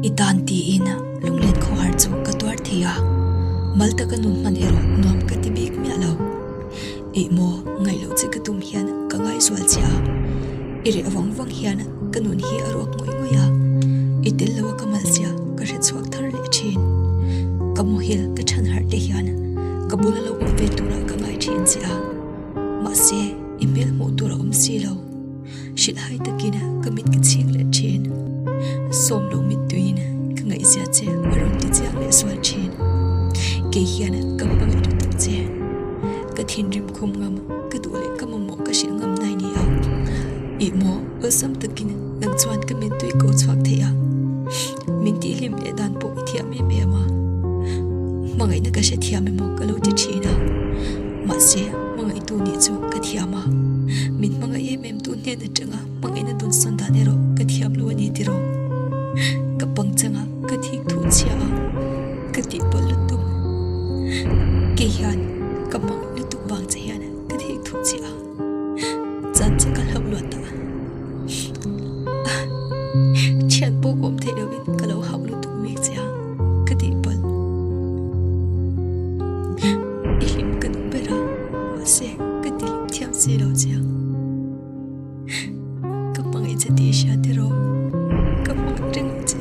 I tan tiin lunglen kho har chu ka tuar thei a, mal taka nu hman erawh nuam ka ti bik miah lo. Eimaww, ngaih loh chi ka tum hian ka ngaihzual che a, i reh vang vang hian ka nun hi a ruak ngawih ngawih a, i tel lo a ka mal chiah ka hre chhuak thar leh thin. Ka mawhil ka than harh te hian ka bul a lo awm ve tura ka ngai thin che a, mahse i hmel hmuh tur a awm si lo. Hrilhhai takin ka mit ka chhik leh thin. A sawm lo mittuiin ka ngaihzia che a rawn ti chiang leh sual thin. Kei hian ka hma leh lutuk che. Ka thinrim khum ngam ka duh leh ka mamawh ka hrilh ngam nai ni ang. Ih maw awlsam takin nang chuan ka mittui ko chhuak theih a. Min tih hlim leh dan pawh i thiam em em a. Hmangaih na ka hre thiam em o ka lo ti thin a. Mahse, hmangaih tu nih chu ka thiam a. Min hmangaih em em tu hnen atanga hmangaih na dun sawn dan erawh ka thiam lo ani ti rawh. Ka pang changa ka thik thu chhia a. Ka tih pawlh lutuk. Kei hian ka hmangaih lutuk vang che hian ka thik thu chhia a. Chan chu ka hlauh luat ta a. Thian pawh kawm theih lo in ka lo hauh lutuk mek che a, ka tih palh. I hlim ka duh ber a, mahse ka ti hlim thiam si lo che a. Ka hmangaih che tih i hria tir aw? Ka hmangaih ringawt che.